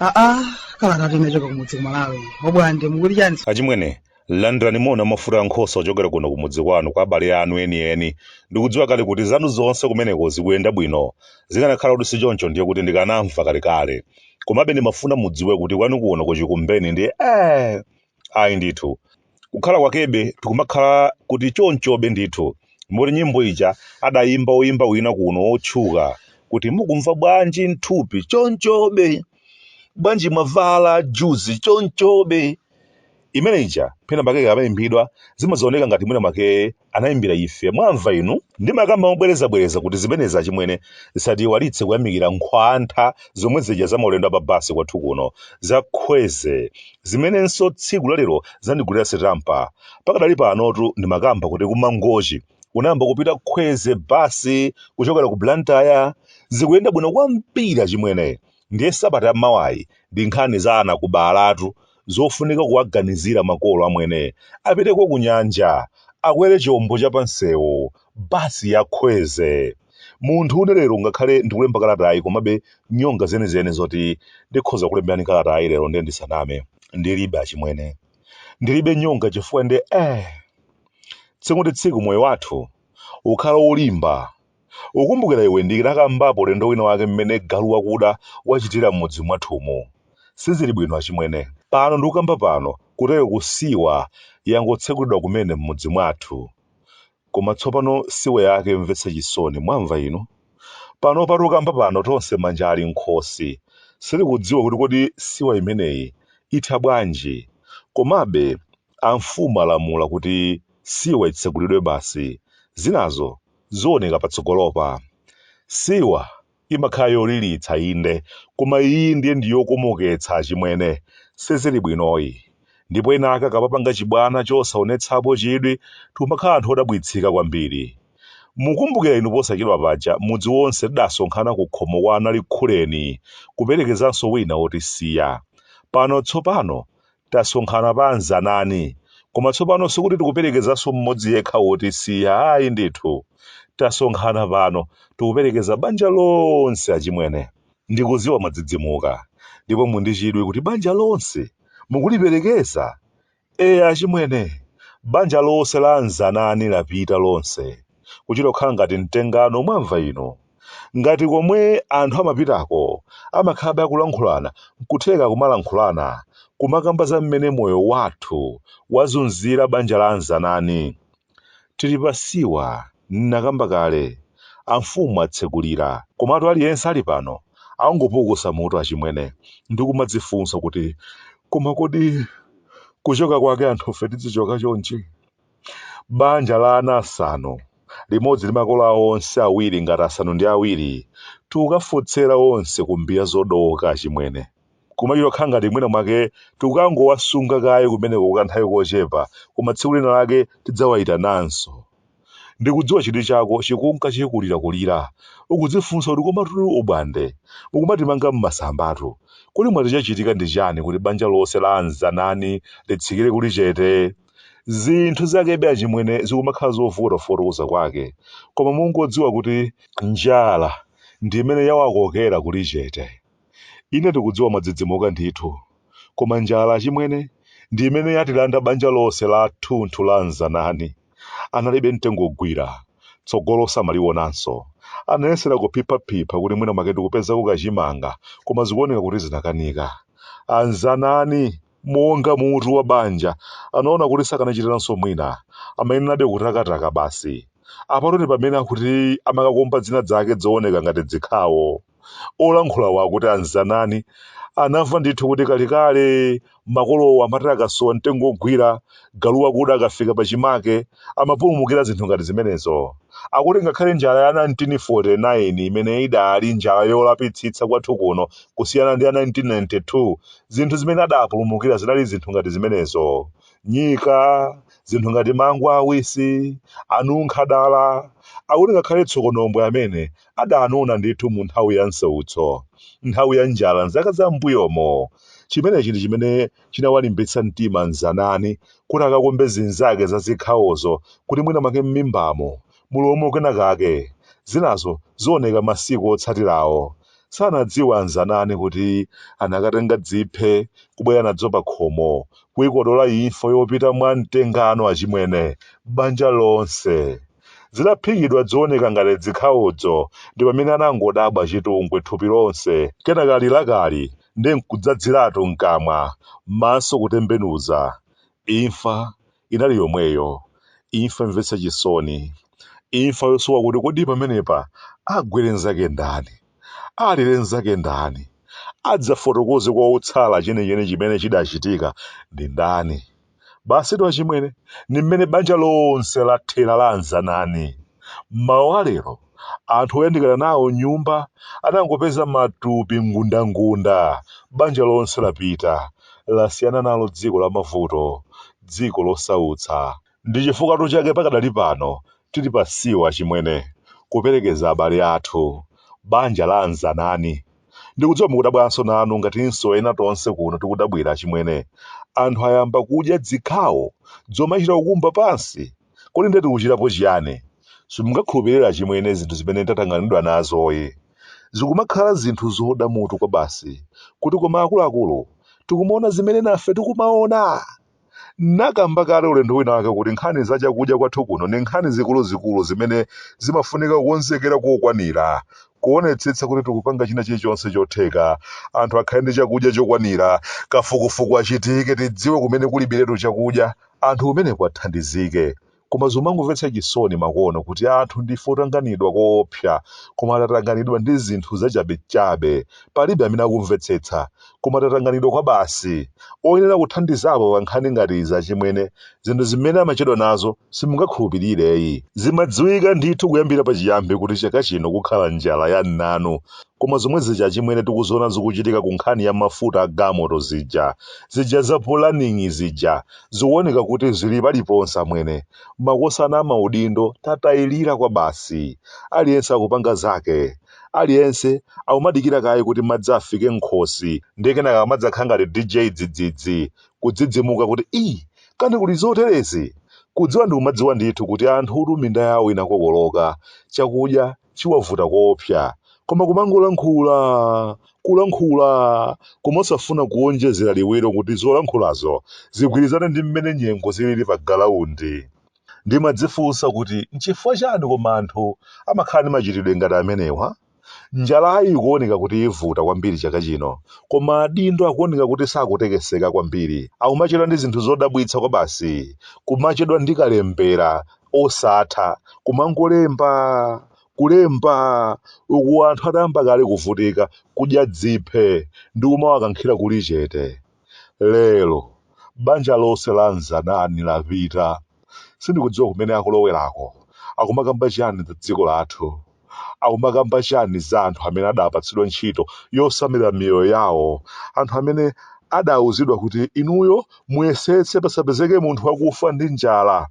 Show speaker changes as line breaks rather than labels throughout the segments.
aa kala kati nachoka kumudzi kumalawi obwande mukuti chani achimwene
Landirani moni wamafuta a nkhosa ochokera kuno kumudzi kwanu kwa abale anu enieni. Ndikudziwa kale kuti zanu zonse kumeneko zikuyenda bwino. Zikanakhala kuti sichoncho ndiye kuti ndikanamva kalekale. Komabe ndimafuna mudziwe kuti kwanu kuno ku Chikumbeni ndiye ee! Ayi ndithu. Kukhala kwakebe tikumakhala kuti chonchobe ndithu. Moti nyimbo ija adayimba woyimba wina kuno wotchuka kuti mukumva bwanji m'thupi chonchobe? Bwanji mwavala juzi chonchobe? imene ija pena pake ikamayimbidwa zimazaoneka ngati mwina mwake anayimbira ife mwamva inu ndimakamba mobwerezabwereza kuti zimenezi achimwene zisatiiwalitse kuyamikira nkhwantha zomwe zija za maulendo a pa basi kwathu kuno za khweze zimenenso tsiku lalero zandigulira sitampa pakadali panotu ndimakamba kuti kumangochi inayamba kupita khweze basi kuchokera ku blantyre zikuyenda bwino kwambiri achimwene ndiye sabata yammawayi ndi nkhani za anakubalatu zofunika kuwaganizira makolo amwene apiteko kunyanja akwere chombo cha pansewu basi ya khweze munthu une lero ngakhale ndikulemba kalatayi komabe nyonga zenizeni zoti ndikhoza kulemberani kalatayi lero ndiye ndisaname ndilibe achimwene ndilibe nyonga chifukwa ndi eh tsiku ndi tsiku moyo wathu ukhala wolimba Ukumbukira iwe ndinakambapo ulendo wina wake mmene galu wakuda wachitira mmudzi mwathumu? Sizili bwino achimwene. Pano ndikukamba pano kutero ku siwa yangotsegulidwa kumene mmudzi mwathu. Koma tsopano siwa yake yomvetsa chisoni mwamva inu? Panopa tikukamba pano tonse manja ali mkhosi. Sitikudziwa kuti kodi siwa imeneyi itha bwanji? Komabe amfumu alamula kuti siwa itsegulidwe basi. Zinazo zioneka patsogolopa. Siwa imakhala yolilitsa inde, koma iyi ndiye ndi yokomoketsa achimwene. Sizili bwinoyi. Ndipo ena ake akapapanga chibwana chosaonetsapo chidwi tikumakhala anthu odabwitsika kwambiri. Mukumbukira inu posachedwa paja mudzi wonse tidasonkhana kukhomo kwa a Nalikhuleni kuperekezanso wina wotisiya. Pano tsopano Tasonkhana pa a Nzanani, koma tsopano sikuti tikuperekezanso mmodzi yekha wotisiya, ayi ndithu. Tasonkhana pano, tikuperekeza banja lonse, achimwene. Ndikudziwa mwadzidzimuka, ndipo muli ndi chidwi kuti banja lonse mukuliperekeza. Eya, achimwene, banja lonse la a Nzanani lapita lonse, kuchita kukhala ngati mtengano, mwamva inu. Ngati komwe anthu amapitako amakhalabe akulankhulana nkutheka kumalankhulana kumakamba za mmene moyo wathu wazunzira banja la anzanani. Tili pa siwa ndinakamba kale amfumu atsekulira komatu aliyense ali pano akungopukusa mutu achimwene ndikumadzifunsa kuti koma kodi kuchoka kwake anthufe tidzichoka chonchi? Banja la ana asanu, limodzi ndi makolo awo onse awiri ngati asanu ndi awiri, tikukafotsera onse ku mbiya zodowoka, achimwene. Kumachita kukhala ngati mwina mwake tikukangowasunga kaye kumeneko kwa kanthawi kochepa, koma tsiku lina lake tidzawayitananso. Ndikudziwa chidwi chako chikunka chikulirakulira. Ukudzifunsa kuti komatu o Bwande mukumatimanga m'masambatu. Kodi mwati chachitika ndi chiyani kuti banja lonse la a Mzanani litsikire kuli chete? zinthu zakebe achimwene zikumakhala zovuta kufotokoza kwake koma mungodziwa kuti njala ndi imene yawakokera kuli chete ine ndikudziwa mwadzidzimuka ndithu koma njala achimwene ndi imene yatilanda banja lonse la thunthu la anzanani analibe mtengo ogwira tsogolo samalionanso anayesera kuphiphaphipha kuti mwina make ndikupezako kachimanga koma zikuoneka kuti zinakanika anzanani Monga mutu wa banja, anaona kuti sakanachitiranso mwina. Amayenerabe kutakataka basi. Apatu ndi pamene akuti amakakumba dzina dzake dzooneka ngati dzikhawo. Olankhulawo akuti a Mzanani anamva ndithu kuti kalekale makolowo amati akasowa mtengo wogwira, galu wakuda akafika pachimake, amapulumukira zinthu ngati zimenezo. Akuti ngakhale njala ya 1949 imene idaali njala yolapitsitsa kwathu kuno kusiyana ndi ya 1992, Zinthu zimene adaapulumukira zinali zinthu ngati zimenezo. Nyika, zinthu ngati mango awisi, anunkha dala, akuti ngakhale tsokonombwe amene adaanona ndithu mu nthawi ya nsautso, nthawi ya njala m'zaka za m'mbuyomo. Chimenechi ndi chimene chinawalimbitsa mtima Mzanani kuti akakumbe zinzake za zikhawozo kuti mwina mwake m'mimbamo mulowemo kenakake, zinazo zioneka masiku otsatirawo. Sanadziwe anzanani kuti anakatenga dziphe kubwera nadzo pakhomo, kuikodola imfa yopita mwa mtengano achimwene, banja lonse. Zitaphikidwa dzooneka ngati dzikhawodzo ndipamene anangodabwa chitungwi thupi lonse, kenaka lilakali ndi nkudzadziratu mkamwa, maso kutembenuza. Imfa inali yomweyo, imfa yomvetsa chisoni, imfa yosowa kuti kodi pamenepa agwire nzake ndani, alire nzake ndani, adzafotokoze kwa otsala chenicheni chimene chidachitika ndi ndani. Basitu achimwene, ndi mmene banja lonse lathera la Anzanani m'mawa wa lero. anthu oyandikana nawo nyumba anangopeza matupi ngundangunda. Banja lonse lapita, lasiyana nalo dziko la mavuto, dziko losautsa. Ndi chifukwatu chake pakadali pano tili pa siwa achimwene, kuperekeza abale athu, banja la a Mzanani. Ndikudziwa mukudabwanso nanu ngatinso ena tonse kuno tikudabwira achimwene. Anthu ayamba kudya dzikhawo dzomachita kukumba pansi? Kodi ndiye tikuchitapo chiyani? Simungakhulupirire achimwene zinthu zimene tatanganidwa nazoyi. Zikumakhala zinthu zoda mutu kwabasi kuti koma akuluakulu tikumaona zimene nafe tikumaona! N'nakamba kale ulendo winawake kuti nkhani za chakudya kwathu kuno ni nkhani zikuluzikulu zimene zimafunika kukonzekera kokwanira, kuonetsetsa kuti tikupanga china chilichonse chotheka, anthu akhale ndi chakudya chokwanira, kafukufuku achitike tidziwe kumene kulibiretu chakudya, anthu kumeneko athandizike koma zomangomvetsa chisoni makono kuti anthu ndife otanganidwa koopsa koma atatanganidwa ndi zinthu zachabechabe palibe amene akumvetsetsa koma tatanganidwa kwabasi oyenera kuthandizapo pa nkhani ngati izi achimwene zinthu zimene amachedwa nazo simungakhulupirireyi zimadziwika ndithu kuyambira pachiyambi kuti chaka chino kukhala njala ya mnanu Koma zomwe zija achimwene tikuziona zikuchitika ku nkhani ya mafuta a galmoto zija, zija za pulaningi zija, zikuoneka kuti zili paliponse amwene. Makosana amaudindo tatayilira kwabasi. Aliyense akupanga zake. Aliyense akumadikira kaye kuti madzi afike m'khosi ndiye kenaka kumadzakhala ngati DJ dzidzidzi, kudzidzimuka kuti ii! Kani kuli zoterezi? Kudziwa ndikumadziwa ndithu kuti anthutu minda yawo inakokoloka, chakudya chiwavuta koopsa koma kumangolankhula kulankhula koma osafuna kuonjezera liwiro kuti zolankhulazo zigwirizane ndi mmene nyengo zilili pa galaundi ndimadzifunsa kuti nchifukwa chani koma anthu amakhala ndi machitidwe ngati amenewa njalayi ikuoneka kuti ivuta kwambiri chaka chino koma adindo akuoneka kuti sakutekeseka kwambiri akumachedwa ndi zinthu zodabwitsa kwabasi kumachedwa ndi kalembera osatha kumangolemba kulemba uku anthu atayamba kale kuvutika kudya dziphe ndi kumawakankhira kuli chete lero banja lonse la mzanani lapita sindikudziwa kumene akulowerako akumakamba chiyani za dziko lathu akumakamba chani za anthu amene adapatsidwa ntchito yosamalira miyoyo yawo anthu amene adauzidwa kuti inuyo muyesetse pasapezeke munthu wakufa ndi njala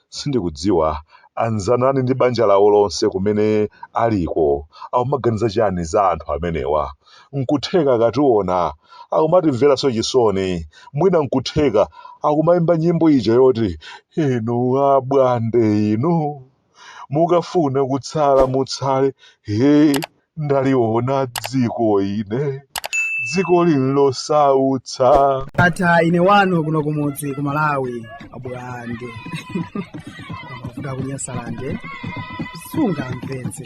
sindikudziwa a Mzanani ndi banja lawo lonse kumene aliko akumaganiza chani za anthu amenewa nkutheka akationa akumatimveranso chisoni mwina nkutheka akumayimba nyimbo ija yoti inu abwande inu mukafuna kutsala mutsale he ndaliona dziko ine dziko lino losautsa ata ine
wanu kuno kumudzi ku malawi abulande kuda kunyasalande sungamvetse